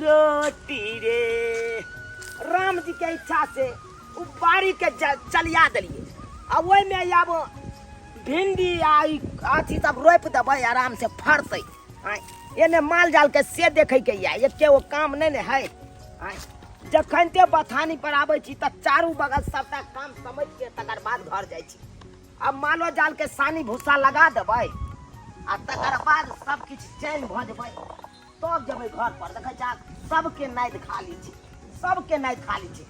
रोटी रे राम जी के इच्छा से उ बाड़ी के ज- चलिया देलिए आ ओहि में आब भिंडी आ ई अथी सब रोपि देबै आराम से फड़तै आँय, एने माल जाल के से देखै के या एके ओ काम नहि ने है आँय, जखन ते बथानी पर आबै छी तऽ चारू बगल सबटा काम समझ के तकर बाद घर जाइ छी आ मालो जाल के सानी भूसा लगा देबै आ तकर बाद सब किछु चैन भऽ जेबै तब जेबै घर पर देखै छा सबके नाद खाली छै सबके नाद खाली छै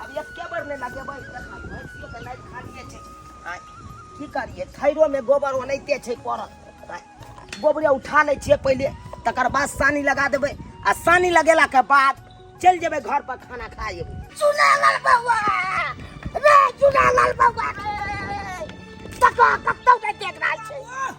अब एके बेर नहि लगेबै देखा भैंसियो के नाद खालिए छै आँय, की करिए थैरो में गोबर ओनाहिते छै पड़ल आँय, गोबरे उठा लै छियै पहिले तकर बाद सानी लगा देबै आ सानी लगेला के बाद चलि जेबै घर पर खाना खा जेबै चुनालाल बौआ रे चुनालाल बौआ रे तका कतौ नहि देख रहल छै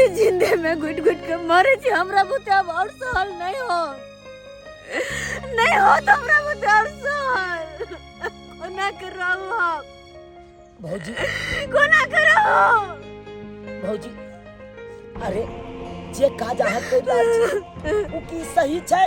ई जिंदे में घुट घुट के मरे छी हमरा बुते अब और सहल नहीं हो नहीं हो तो हमरा बुते और सहल कोना के रहू हम भौजी कोना के रहू भौजी अरे जे काज अहाँ कहि रहल छी ओ की सही छै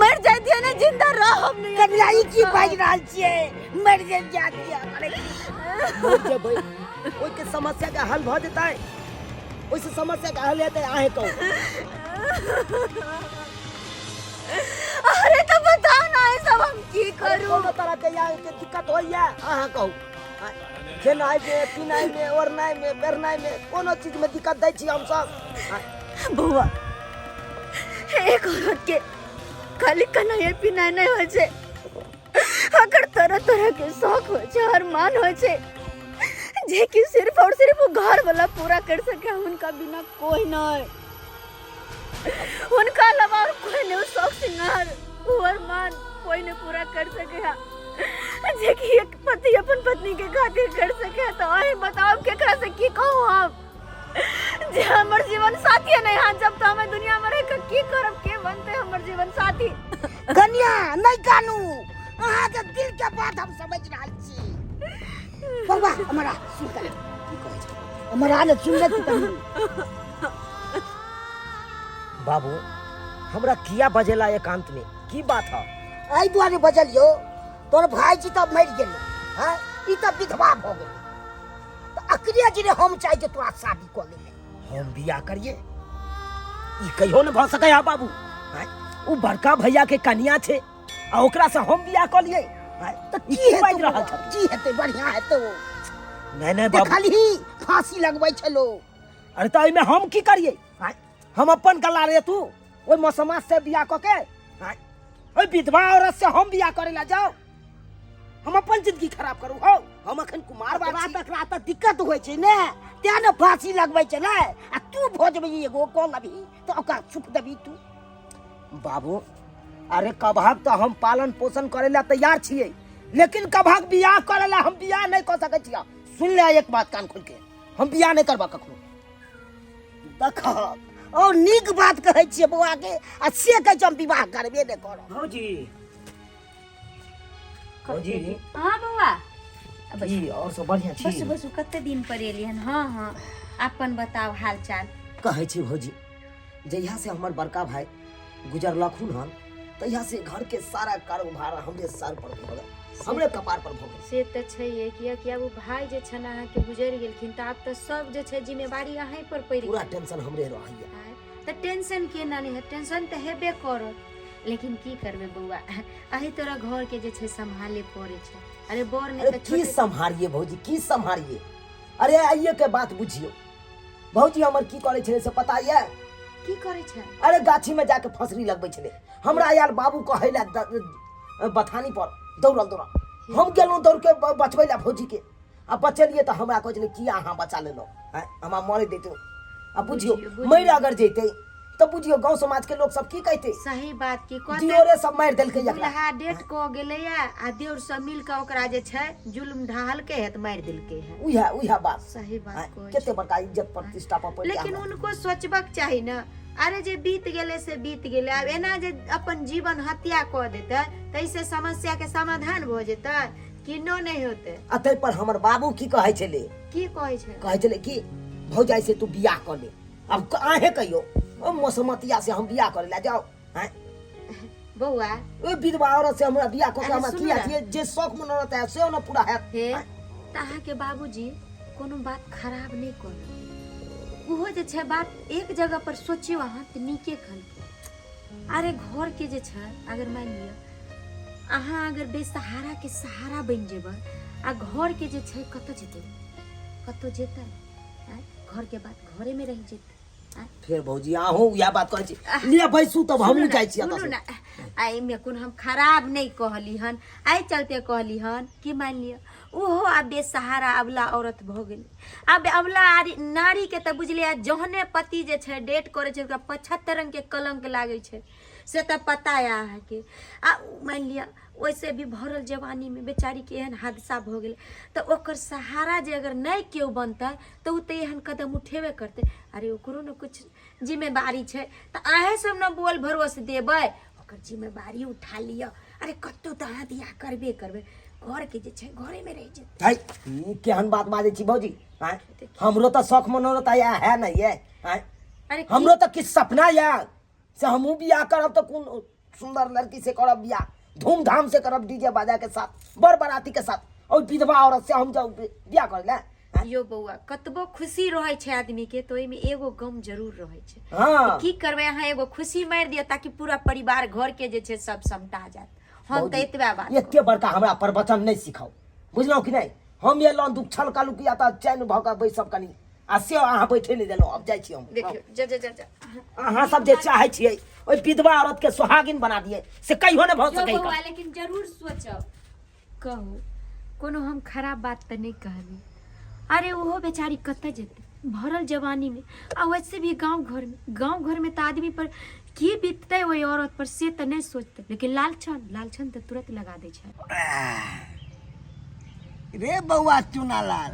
मर जाए दिया ना जिंदा रह हम नहीं कबला ई की बाज रहल छिए मर जे जा दिया अरे जे भाई ओइ के समस्या का हल भ जेतै ओइ से समस्या का हल हेतै आहे कहू अरे तो बताओ ना ये सब हम की करूं कोनो तरह के या के दिक्कत होइया अहाँ कहू आ, खेनाइ में पिनाइ में ओढ़नाइ में बेरनाइ में कोनो चीज में दिक्कत दै छी हम सब आ, बौआ एक औरत के खाली कन्हैया पिनाय नहीं हो छे अगर तरह तरह के शौक हो छे और मान हो छे जे कि सिर्फ और सिर्फ वो घर वाला पूरा कर सके उनका बिना कोई ना है उनका अलावा और कोई नहीं वो शौक सिंगार वो और मान कोई नहीं पूरा कर सके हा जे कि एक पति अपन पत्नी के खातिर कर सके हा, तो और बताओ के करा से की कहूँ आप जे हमर जीवन साथी है नहीं हाँ जब तो हमें दुनिया में रह के की करब के बनते हमर जीवन साथी कन्या नहीं कानू अहाँ के दिल के बात हम समझ रहल छी बौआ हमरा सुन के की कहै छै हमरा ने सुन ले तू कनी बाबू हमरा किया बजेला एकांत में की बात है एहि दुआरे बजलियो तोर भाईजी तऽ मरि गेलै हँ ई तऽ विधवा भऽ गेलै तो अकरे गिरे हम चाहे जे तोरा शादी कर ले हम बियाह करिए ई कहियो न भ सकै है बाबू हैं? उ बड़का भैया के कनिया छे आ ओकरा से हम बियाह कर लिए तो की की बाजि हेतै रहल बौआ? छथिन? की हेतै बढ़िया हेतै ओ नहीं नहीं बाबू देखलही फांसी लगबै छै लोग अरे तो एहिमे हम की करिए हैं? हम अपन गला रे तू ओहि मौसमा से बियाह कऽ के हैं? ओहि विधवा औरत से हम बियाह करे ला जाओ हम अपन जिंदगी खराब करू हौ हम अखन कुमार बाबा बाबा तक रात दिक्कत होइ छै ने तें ने फांसी लगबै छै ने आ तू भोजबै एगो कॉल अभी तो ओकरा सुख देबी तू बाबू अरे कबहक तो हम पालन पोषण करे ला तैयार छियै लेकिन कबहक बियाह करे ला हम बियाह नहीं कर सकै छियै सुन ले एक बात कान खोल के हम बियाह नहीं करबा कखनो देखक और नीक बात कहै छियै बौआ के आ से कहै छै हम विवाह करबे नहि करब भौजी भौजी हाँ बौआ अब की और सब बढ़िया बस छी बस कते दिन पर एली हन हाँ हाँ अपन बताओ हाल चाल कहै छी भौजी जहिया से हमर बड़का भाई गुजरलखुन हन तहिया से घर के सारा कारोबार हमरे सर पर भऽ गेल हमरे कपार पर भऽ गेल से तऽ छैहे किया कि आब ओ भाय जे छन अहाँके गुजरि गेलखिन तऽ आब तऽ सब जे छै जिम्मेवारी अहीं पर पड़ि पूरा गेल टेंशन हमरे रहैया तऽ टेंशन केना नहि है टेंशन तऽ हेबे करत लेकिन की करबे बौआ अही तोरा घर के जे छै संभाले पड़े छै अरे बर ने अरे की छोटे सम्हारिए भौजी की सम्हारिए अरे आइए के बात बुझियो भौजी हमर की करे छले से पता ये की करे छै अरे गाछी में जाके फसरी लगबे छले हमरा यार बाबू कहैला बथानी पर दौड़ल दौड़ल हम गेलहुँ दौड़ के ब- बचबै ला भौजी के आ बचलिए तऽ हमरा कहै छलै किया अहाँ बचा लेलहुँ आँय, हमरा मरे देतै आ बुझियौ बुझियौ, बुझियौ। मरि अगर जैतै तऽ बुझियौ गाँव समाजके लोक सब की कहतै सही बात की कहते दियोरे सब मारि देलकै एकरा दुल्हा डेट को गेलैया आ देवर सब मिल के ओकरा जे छै जुल्म ढाहलकै है तऽ मारि देलकै है उहे उहे बात सही आँय, बात कहै कते बड़का इज्जत प्रतिष्ठा पर पड़ि लेकिन गेल। उनको सोचबाक चाही ने अरे जे बीत गेलै से बीत गेलै आब एना जे अपन जीवन हत्या कऽ देतै ताहिसँ समस्याके समाधान भऽ जेतै किन्नो नहि होते आ ताहि पर हमर बाबू की कहै छलै की कहै छै कहै छलै कि भौजाई से तू बियाह कर ले अब क- अहें कहियो ओ मसमतिया से हम बियाह करे ला जाओ हैं? बौआ ओ विधवा औरत से हमरा बियाह कर के अरे हमरा सुनू किया ना। छियै जे शौक मन रहता है से न पूरा हैत हे हैं? तऽ अहाँके बाबूजी कोनो बात खराब नहि कहलक ओहो जे छै बात एक जगह पर सोचियौ अहाँ तऽ नीके कहलक अरे घर के जे छै अगर मान लिअ अहाँ अगर बेसहारा के सहारा बनि जेबै आ घर के जे छै कतऽ जेतै कतऽ जेतै आँय? घर के बात घरे में रहि जेतै आँय? फिर भौजी अहूँ वएह बात कहै छी ले बैसू तब हमहूँ जाइ छी सुनू एतऽ ना आ एहिमे कोन हम खराब नहि कहली हन एहि चलते कहली हन कि मानि लिअ ओहो आब बेसहारा अबला औरत भऽ गेल आब अवला आरी- नारी के तऽ बुझले है जहने पति जे छै डेट करे छै ओकरा पचहत्तर रंग के कलंक लागे छै से तऽ पता है अहाँके आ उ- मानि लिअ ओहिसे भी भरल जवानी में बेचारी के एहन हादसा भऽ गेलै तऽ ओकर सहारा जे अगर नहि केओ बनतै तऽ ओ तऽ एहन कदम उठेबे करतै अरे ओकरो ने कुछ जिम्मेवारी छै तऽ अहें सब ने बोल भरोस देबै ओकर जिम्मेवारी उठा लिअ अरे कतहु तऽ अहाँ बियाह करबे करबै घरके जे छै घरेमे रहि जेतै है ई केहन बात बाजै छी भौजी आँय? हमरो तऽ शौक मनोरथ आय है ने ये आँय? अरे की- हमरो तऽ किछु सपना यऽ से हमहूँ बियाह करब तऽ कोन सुंदर लड़की से करब बियाह धूमधाम से करब डीजे बाजा के साथ बड़ बराती के साथ और विधवा औरत से हम जाऊ बियाह करे ले आइयो बौआ कतबो खुशी रहै छै आदमी के तो एमे एगो गम जरूर रहै छै हाँ की करबै अहाँ एगो खुशी मारि दिअ ताकि पूरा परिवार घर के जे छै सब समटा जायत हम बहुत तऽ नीक। एतबे बात एते बड़का हमरा प्रवचन नहीं सिखाओ बुझलहुँ कि नहीं हम ये लौन दुख छल कालू किया तऽ चैन भऽ कऽ बैसब कनी आ से अहाँ बैठे नहीं देलहुँ अब जाइ छी हम देखियौ जा जा जा जा अहाँ सब जे चाहै छियै ओहि विधवा औरत के सुहागिन बना दियै से कहियो नहि भऽ यौ सकैया बौआ लेकिन जरूर सोचब कहू कोनो हम खराब बात तऽ नहि कहली अरे ओहो बेचारी कतऽ जेतै भरल जवानीमे आ वैसे भी गाँव घरमे गाँव घरमे तऽ आदमी पर की बीततै ओहि औरत पर से तऽ नहि सोचतै लेकिन लालछन लालछन तऽ तुरंत लगा दै छै रे बौआ चुनालाल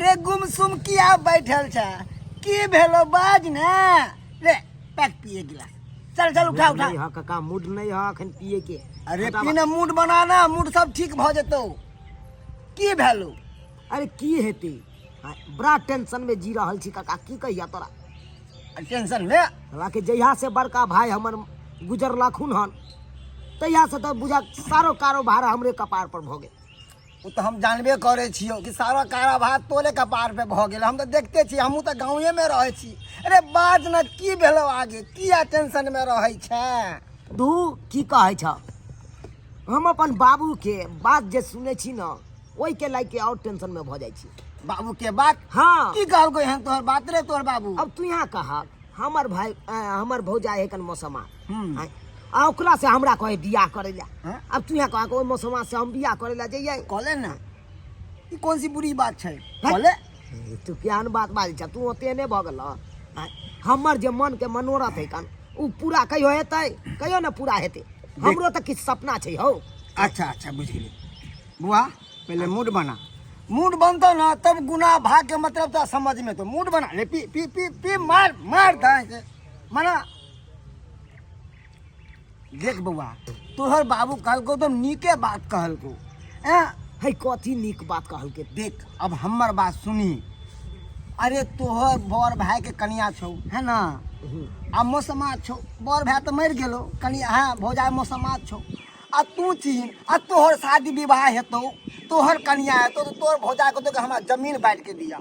रे गुमसुम किया बैठल छ की भेलो बाज ने रे पैक पिए गिलास चल चल उठा उठा नहीं है काका मूड नहीं है अखन पिए के अरे हटाबा। पीने मूड बनाना मूड सब ठीक भऽ जेतौ की भेलौ अरे की हेतै हाँ, बड़ा टेंशन में जी रहल छी काका की कहिया तोरा टेंशन मे हमरा के जहिया से बड़का भाई हमर गुजरलखुन हन तहिया से तऽ बुझा सारो कारोबार हमरे कपार पर भऽ गेल ओ तऽ हम जानबे करै छियौ कि सारा कारा भात तोरे कपार पे भऽ गेल हम तऽ देखते छी हमहूँ तऽ गाँवेमे रहै छी अरे बाज ने की भेलौ आगे किया टेंशनमे रहै छै तू की कहै छ हम अपन बाबूके बात जे सुनै छी ने ओहिके लए के आओर टेंशनमे भऽ जाइ छी बाबू के बात हँ की कहलको एहन तोहर बात रे तोहर बाबू अब तू यहाँ कहा हमर भाई अ, हमर भौजाई है कन मौसमा हम्म। आँय, आ ओकरा से हमरा कहे बियाह करे ला हाँ? अब तू यहाँ कहा ओहि मौसमा से हम बियाह करे ला जइयै कहले ना ई कोन सी बुरी बात छै कहले ए, तू केहन बात बाजै छ तू ओते नहि भऽ गेल आँय, हमर जे मन के मनोरथ है कन ओ पूरा कहियो हेतै कहियो ने पूरा हेतै हमरो तऽ किछु सपना छै हौ अच्छा अच्छा बुझ गेली बुआ पहले मूड बना मूड बनतो ना तब गुना भाग के मतलब तो समझ में तो मूड बना ले पी पी पी पी मार मार दाएं से मना देख बौआ तोहर बाबू कहलको तो नीके बात कहलको ए है कथी नीक बात कहलके देख अब हमर बात सुनी अरे तोहर बड़ भाई के कनिया छौ है ना आ मौसमा छौ बड़ भाई तो मर गेलो कनिया है भौजाई मौसमा छौ आ तू चीन आ तोहर शादी विवाह हेतौ तोहर कनिया हेतौ तो तोहर भौजाई को तो हमरा जमीन बांट के दिया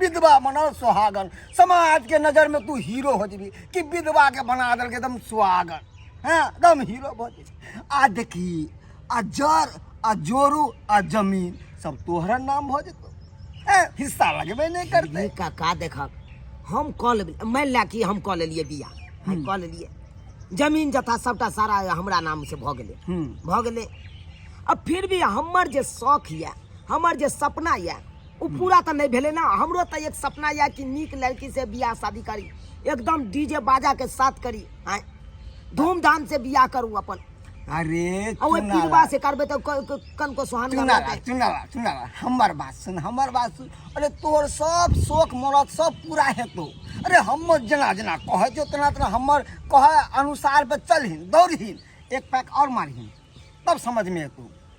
विधवा बनल सुहागन समाज के नजर में तू हीरो हो जीबी कि विधवा के बना दल के एकदम सुहागन हैं एकदम हीरो हो जीबी आ देखी आ जर आ जोरू आ जमीन सब तोहरा नाम हो जेतो हैं, हिस्सा लगबे नहीं करते ये काका देखक हम कह लेबे मानि लए कि हम कह लेलियै बिया हम कह लेलियै जमीन जथा सबटा सारा हमरा नाम से भऽ गेलै हम्म। भऽ गेलै अब फिर भी हमर जे शौक यऽ हमर जे सपना यऽ ओ पूरा तऽ नहि भेलै ने हमरो तऽ एक सपना यऽ कि नीक लड़की से बियाह शादी करी एकदम डीजे बाजा के साथ करी आय धूमधाम से बियाह करू अपन अरे आ ओहि चुनाला, पीरवा से करबै तऽ क- क- कन को सोहन चुनाला करबै चुनाला चुनाला हमर बात सुन हमर बात सुन अरे तोर सब शोक मरद सब पूरा हेतौ अरे हम जेना जेना कहै छौ तेना तेना हमर कहै अनुसार पे चलहिन दौड़हिन एक पैक और मारहिन तब समझ में एतौ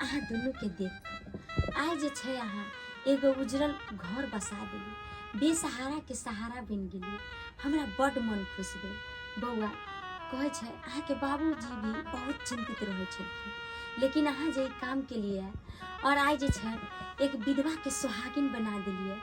अहाँ दुनूके देख कऽ आइ जे छै अहाँ एगो उजरल घर बसा देली बेसहाराके सहारा बनि गेली हमरा बड्ड मन खुश भेल बौआ कहै छै अहाँके बाबूजी भी बहुत चिंतित रहै छलखिन लेकिन अहाँ जे ई काम केलिए आओर आइ जे छै एक विधवाके सुहागिन बना देलिए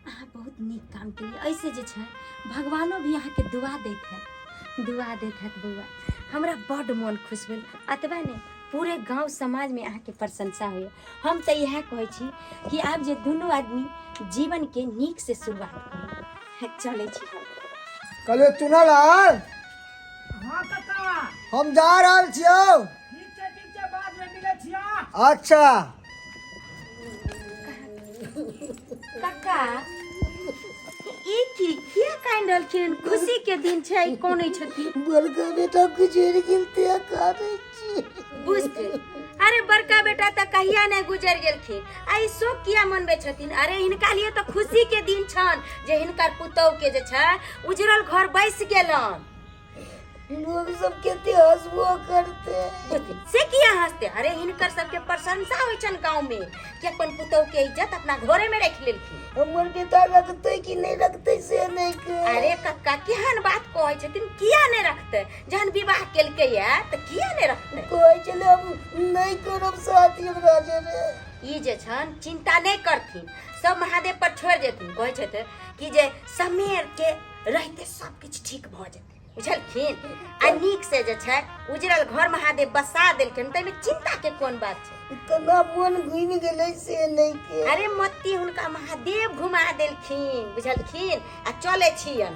अहाँ बहुत नीक काम केलिए ऐसे जे छै भगवानो भी अहाँके दुआ दैत हैत दुआ दैत हैत बौआ हमरा बड्ड मन खुश भेल अतबे नहि पूरे गांव समाज में अहाँ के प्रशंसा होइए हम तो यह कहे छी कि आप जे दोनों आदमी जीवन के नीक से शुरुआत करी चले छी हम कहलियो चुनल आर हाँ कका हम जा रहल छियौ ठीक छै ठीक छै बाद में मिले छिया अच्छा कक्का ई की किया कान रहलखिन खुशी के दिन छै कोने छथिन बड़का बेटा गुजर गेल ते काटे बुझ गई अरे बड़का बेटा तो कहिया नहीं गुजर गेलखिन आ ई शोक किया मनबे छथिन अरे हिनका लिए तो खुशी के दिन छन जे हिनकर पुतौह के जे छै उजरल घर बैस गेलन लोग सब केते हंसबो करते बुझली? से किया हंसते अरे हिनकर सबके प्रशंसा होइ छन गांव में कि अपन पुतौह के इज्जत अपना घरे में रख लेलखिन हमर बेटा रखते कि नहीं रखते से नहीं के अरे कक्का केहन बात कहै छथिन किया नहीं रखते जहन विवाह केलकै या तऽ किया नहि रखतै कहै छलै हम नहि करब शादी हमरा जे रे ई जे छन चिंता नहि करथिन सब महादेव पर छोड़ देथिन कहै छथि कि जे समेर के रहते सब किछु ठीक भऽ जेतै बुझलखिन आ नीक से जे छै उजरल घर महादेव बसा देलखिन ताहिमे चिंता के कोन बात छै कना मोन घुमि गेलै से नहि के अरे मोती हुनका महादेव घुमा देलखिन बुझलखिन आ चले छियन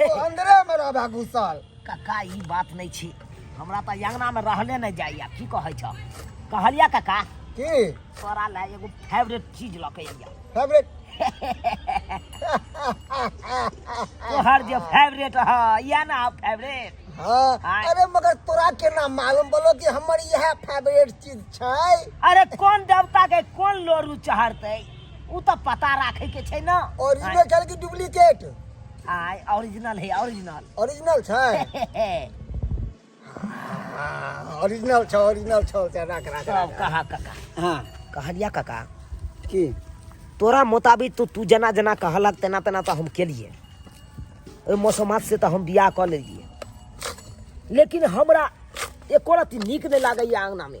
अंदरे में रहबा घुसल काका ई बात नहीं छी हमरा तो अंगना में रहले नहीं जाइया की कहे छ कहलिया काका की तोरा ले एगो फेवरेट चीज लके आइया फेवरेट तोहर जे फेवरेट ह या ना फेवरेट हाँ हाँ। अरे मगर तोरा के ना मालूम बोलो कि हमर यह फेवरेट चीज छै अरे कौन देवता के कौन लोरू चढ़ते उ त पता राखे के छै ना ओरिजिनल छल कि डुप्लीकेट आय ओरिजिनल है ओरिजिनल ओरिजिनल छै ओरिजिनल छौ ओरिजिनल छौ से राख राख सब राख। कहा काका हाँ कहलिया काका की तोरा मुताबिक तो तू जना जना कहलक तेना तेना तो हम केलिए ओहि मौसमात से तो हम बियाह कऽ लेलिए लेकिन हमरा एको रति नीक नहि लागैए अङ्गनामे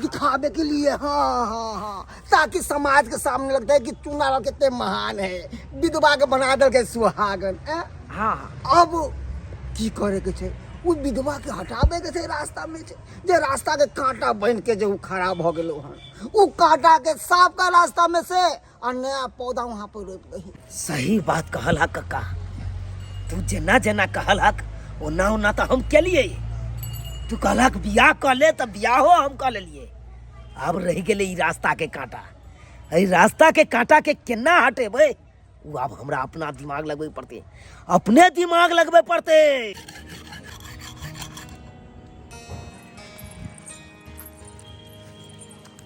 दिखावे के लिए हाँ हाँ हाँ ताकि समाज के सामने लगता है कि चुनाव कितने महान है विधवा के बना दल के सुहागन हाँ, हाँ अब की करे के छे उस विधवा के हटावे के छे रास्ता में छे जे रास्ता के कांटा बन के जो खराब हो गए हन उ कांटा के साफ का रास्ता में से आ नया पौधा वहाँ पर रोपि दही सही बात कहल हा कक्का तू जेना जेना कहल हक ओना ओना तो हम केलिए तू कहलक बियाह कऽ ले तऽ बियाहो हम कऽ लेलिए आब रहि गेलै ई रास्ता के कांटा एहि रास्ता के कांटा के केना हटेबै ओ आब हमरा अपना दिमाग लगबै पड़तै अपने दिमाग लगबै पड़तै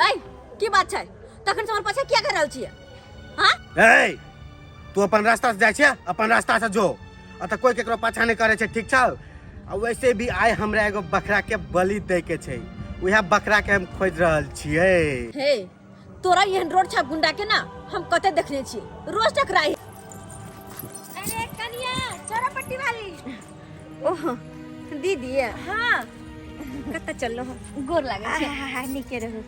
ऐ की बात छै तखन से हमर पाछा किया कर रहल छियै हाँ ए तू अपन रास्ता से जाइ छै अपन रास्ता से जो आ तऽ कोई केकरो पाछा नहि करे छै ठीक छौ आ वैसे भी आइ हमरा एगो बकरा के बलि दे के छै उहे बकरा के हम खोज रहल छियै हे तोरा एहन रोड छा गुंडा के ना हम कते देखने छी रोज टकराई अरे कनिया चोरा पट्टी वाली ओह दीदी हाँ कतऽ चललो गोर लागै छै नीके रहू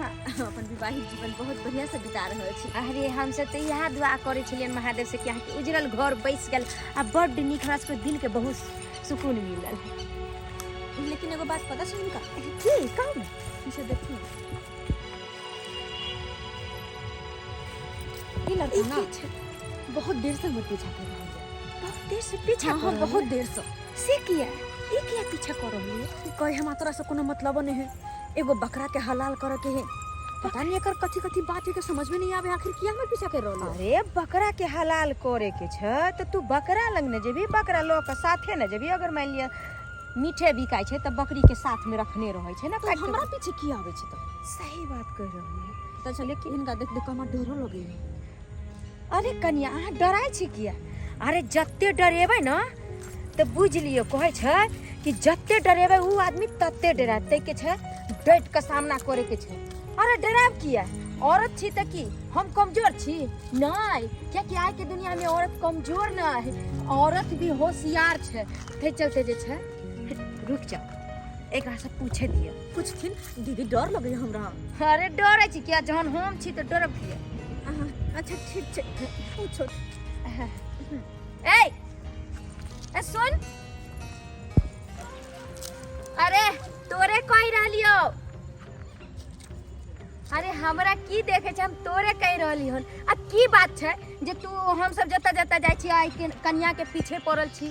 हाँ, हम अपन विवाहित जीवन बहुत बढ़िया से बिता रहल छी अरे हम सब तो यह दुआ करे छलियन महादेव से कि अहाँके उजरल घर बैस गेल आ बड्ड नीक हमरा सबके दिल के बहुत सुकून मिलल लेकिन एगो बात पता सुन का की कहू ने पीछे देखू ना। ई लड़का ना बहुत देर से हमर पीछा कर रहल है बहुत देर से पीछा हाँ, कर हाँ, रहल बहुत है। देर से से किया ई किया पीछा कर रहल है कहे हमरा तोरा से कोनो मतलब नहीं है एगो बकरा के हलाल करे के है पता नहीं एकर कथी कथी बात है के समझ में नहीं आवे आखिर किया में पीछा कर रहल अरे बकरा के हलाल करे के छ तो तू बकरा लग न जेबी बकरा लो के साथे न जेबी अगर मान लिया मीठे बिकाय छै त बकरी के साथ में रखने रहै छै ना तो काट हमरा पीछे किया आवे छै तो सही बात कह रहल है तो चले कि इनका देख देख के हमरा डरो लगे है अरे कनिया अहाँ डराइ छी किया अरे जते डरेबै ने तऽ बुझि लियौ कहै छै कि जते डरेबै ओ आदमी तते डरायब ताहिके छै डटि कऽ सामना करैके छै अरे डरायब किया औरत छी तऽ की हम कमजोर छी नहि कियाकि आइके दुनियामे औरत कमजोर नहि है औरत भी होशियार छै ताहि चलते जे छै रुकि जाउ एकरासँ पूछे दिअ कुछ खिन दीदी डर लगे हमरा अरे डरे छी किया जहन हम छी त डरब किया अहाँ, अच्छा ठीक छै पूछो ए ए सुन अरे तोरे कहि रहलियो अरे हमरा की देखे छै हम तोरे कहि रहली हन आ की बात छै जे तू हम सब जता जता जाइ छी आइ के कन्या के पीछे पड़ल छी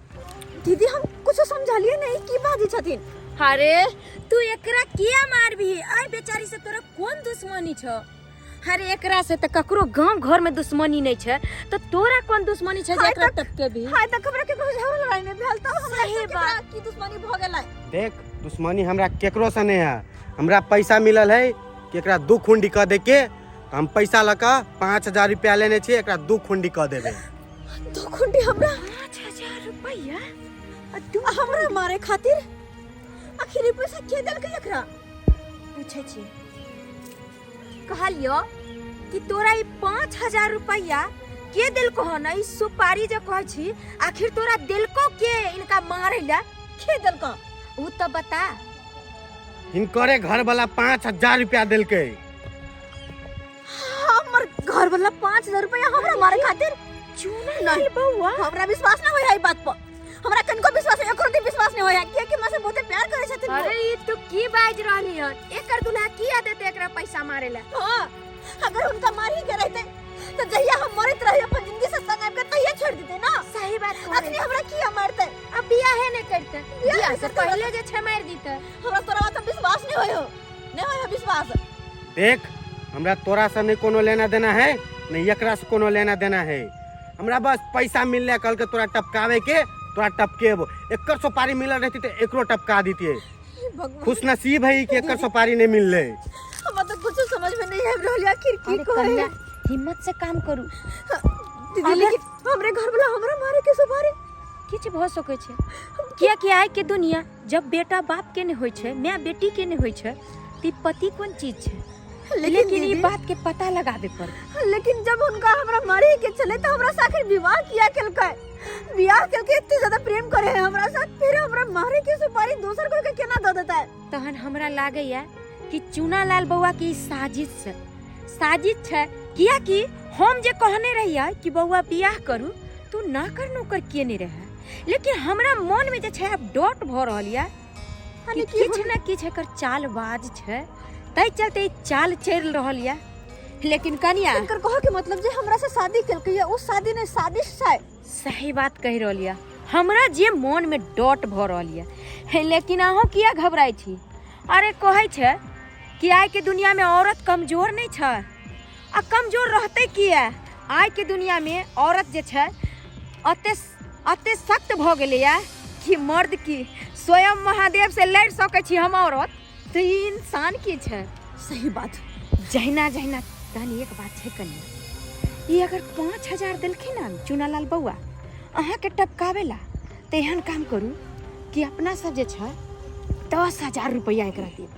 दीदी हम कुछ समझलिए नहीं की बाजी छथिन अरे तू एकरा किया मारबी अरे बेचारी से तोरा कोन दुश्मनी छ अरे एकरा से त ककरो गांव घर में दुश्मनी नहीं छै त तोरा कोन दुश्मनी छै जे एकरा टपके भी हाय तक हमरा के कुछ झगड़ा लड़ाई में भेल त हमरा सही बात की दुश्मनी भ गेलै देख दुश्मनी हमरा केकरो से नहीं है हमरा पैसा मिलल है कि एकरा दू खुंडी कह दे के हम पैसा लऽ कऽ पाँच हजार रुपया लेने छी एकरा दू खुंडी कह देबे दो खुंडी हमरा पाँच हजार रुपया आ दू आ हमरा मारे खातिर आखिर ई पैसा के देलकै एकरा पूछे छी कहलियो कि तोरा ई पाँच हजार रुपया के देलको हन ई सुपारी जे कहै छी आखिर तोरा देलको के इनका मारे ला के देलकै ऊ तो बता हिनकरे घर वाला पाँच हजार रुपया देलकै हमर घर वाला पाँच हजार रुपया हमरा मारे खातिर चूना नहीं बउआ हमरा विश्वास ना होय है ई बात पर हमरा कनको विश्वास एको रति विश्वास नहीं होय है किया कि हमरा से बहुते प्यार करे छथिन अरे ई तू की बाज रहनी हन एकर दुल्हा की आदत एकरा पैसा मारे ला हां अगर उनका मार ही के रहते तो जहिया हम मरत रहे अपन जिंदगी से संग आके तहिया छोड़ देते ना सही बात कह अखनी हमरा किया मारते अब बियाह है नहीं करते बियाह बियाह से करते, पहले जे छमार दीते हमरा तोरा बात पर विश्वास नहीं होय हो नहीं होय है विश्वास देख हमरा तोरा से नहीं कोनो लेना देना है नहीं एकरा से कोनो लेना देना है हमरा बस पैसा मिलने कल के तोरा टपकावे के तोरा टपकेबो एकर सुपारी मिलल रहती तो एकरो टपका देतिए हे भगवान खुश नसीब है कि एकर सुपारी नहीं मिलले हमरा तो कुछ समझ में नहीं आबि रहल है आखिर की अरे कहे कन्या हिम्मत से काम करू दीदी लेकिन हमरे घर वाला हमरा मारे के सुपारी किछु भऽ सकै छै किया कि आइ के दुनिया जब बेटा बाप के नहीं होय छे माय बेटी के नहीं होय छे ती पति कोन चीज छे लेकिन लेकिन ई दीदी- बात के पता लगाबे पर लेकिन जब उनका हमरा मरे के चले तो हमरा से आखिर विवाह किया केलकै विवाह केलकै इतने ज्यादा प्रेम करे है हमरा साथ फिर हमरा मारे के सुपारी दोसर कोई के केना दे देता है तहन हमरा लागैया कि चूनालाल बौआ के ई साजिश छै साजिश छै किया कि हम जे कहने रहियै कि बौआ बियाह करू तू ना कर नौकर किए नहीं रहे लेकिन हमरा मन में जे छै अब डॉट भ रहल या कि किछ न किछ एकर चालबाज छै तै चलते ई चाल चल रहल या लेकिन कनिया एकर कहो के मतलब जे हमरा से शादी केलकै या उ शादी नै साजिश छै सही बात कह रहल या हमरा जे मन में डॉट भ रहल या हे, लेकिन अहाँ किया घबराई छी अरे कहै छै कि आइ के दुनिया में औरत कमजोर नहीं छै आ कमजोर रहतै किए आइके दुनियामे औरत जे छै अते अते सख्त भऽ गेलैए कि मर्द की स्वयं महादेव से लड़ि सकै छी हम औरत तऽ ई इंसान की छै सही बात जहिना जहिना तहन एक बात छै कनी ई अगर पाँच हजार देलखिन हन चुनालाल बौआ अहाँके टपकाबै ला तऽ एहन काम करू कि अपना सब जे छै दस हजार रुपैआ एकरा देब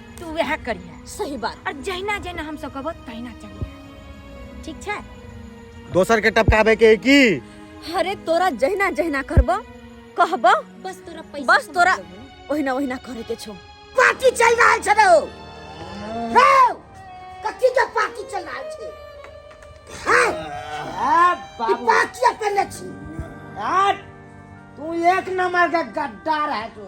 तू वएह करिया सही बात और जहिना जहिना हम सब कहबो तहिना चलिया ठीक छै दोसर के टपकावे के की अरे तोरा जहिना जहिना करबो कहबो बस तोरा पैसा बस तोरा ओहिना ओहिना करे के छो पार्टी चल रहल छै रे कथी के पार्टी चल रहल छै हां बाबू पार्टी अपन छी तू एक नंबर का गद्दार है तू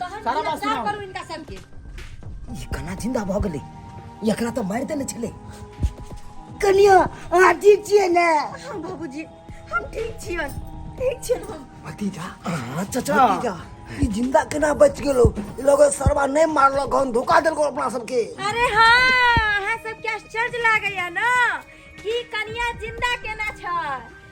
तहन सारा बात जा सुनाउ। करू इनका सबके ई कना जिंदा भऽ गेलै ई एकरा तऽ मारि देने छलै कनिया अहाँ ठीक छियै ने हाँ बाबूजी हम ठीक छियन ठीक छियन हम भतीजा अहाँ चचा भतीजा ई जिंदा केना बच गेलो ई लोग सरवा नहि मारलक हन धोखा देलको अपना सबके अरे हाँ अहाँ सबके आश्चर्य लागैया ना कि कनिया जिंदा केना छै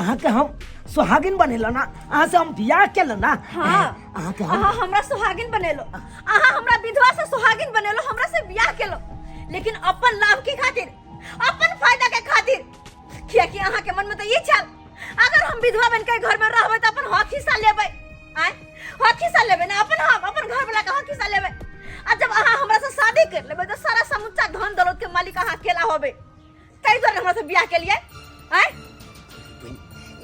अहाँ के हम सुहागिन बनेला ना अहाँ से हम बियाह केला ना हाँ। अहाँ के हम अहाँ हमरा सुहागिन बनेलो अहाँ हमरा विधवा से सुहागिन बनेलो हमरा से बियाह केलो लेकिन अपन लाभ के खातिर अपन फायदा के खातिर किया कि अहाँ के मन में तो ये चल अगर हम विधवा बन के घर में रहबे तो अपन हक हिस्सा लेबे आय हक हिस्सा लेबे ना अपन हम अपन घर वाला का हक हिस्सा लेबे आ जब अहाँ हमरा से शादी कर लेबे तो सारा समुच्चा धन दौलत के मालिक अहाँ अकेला होबे ताहि दुआरे हमरा से बियाह केलियै आय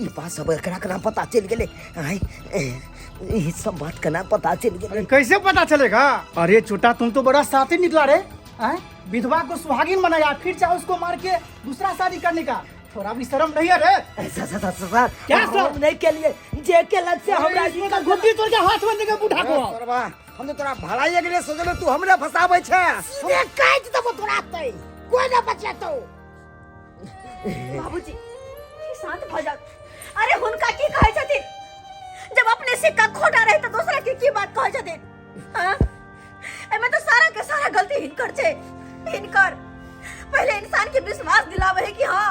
ई बात सब एकरा के ना पता चल गेले आय ई सब बात के ना पता चल गेले अरे कैसे पता चलेगा अरे छोटा तुम तो बड़ा साथी निकला रे हैं? विधवा को सुहागिन बनाया फिर चाहे उसको मार के दूसरा शादी करने का थोड़ा भी शर्म नहीं है रे सर सर सर सर क्या सर? हम नहीं के लिए जे के लग से हमरा अरे, इसको तो घुट्टी तोड़ के हाथ में देके बूढ़ा को आओ। सरवा हम तो तोरा भलाई के लिए सोचले तू हमरे फसाबै छै से काट देबो तोरा तै कोई ना बचेतौ बाबूजी शांत भ जाओ अरे हुनका की कहै छथिन जब अपने सिक्का खोटा रहे तो दूसरा की की बात कहै छथिन हां एमे तो सारा के सारा गलती हिनकर छै हिनकर पहले इंसान के विश्वास दिलावे है कि हां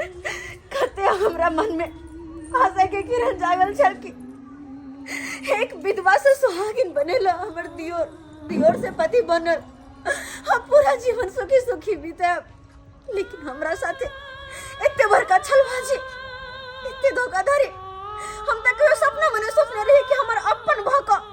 कते हमरा मन में आशा के किरण जागल छल कि एक विधवा से सुहागिन बनेला हमर दियोर दियोर से पति बनल हम पूरा जीवन सुखी सुखी बीते लेकिन हमरा साथे एते बड़का छलबाजी एते धोखाधड़ी हम तक कहियो सपना मने सोचने रही कि हमर अपन भका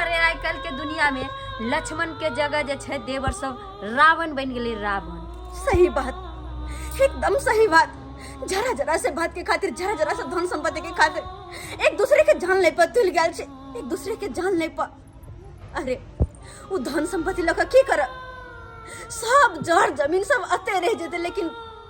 अरे आइ काल्हि के दुनिया में लक्ष्मण के जगह जे छै देवर सब रावण बन गेले रावण सही बात एकदम सही बात जरा जरा से बात के खातिर जरा जरा से धन संपत्ति के खातिर एक दूसरे के जान ले पर तुल गया छे एक दूसरे के जान ले पर अरे वो धन संपत्ति लगा की कर सब जड़ जमीन सब अते रह जेते लेकिन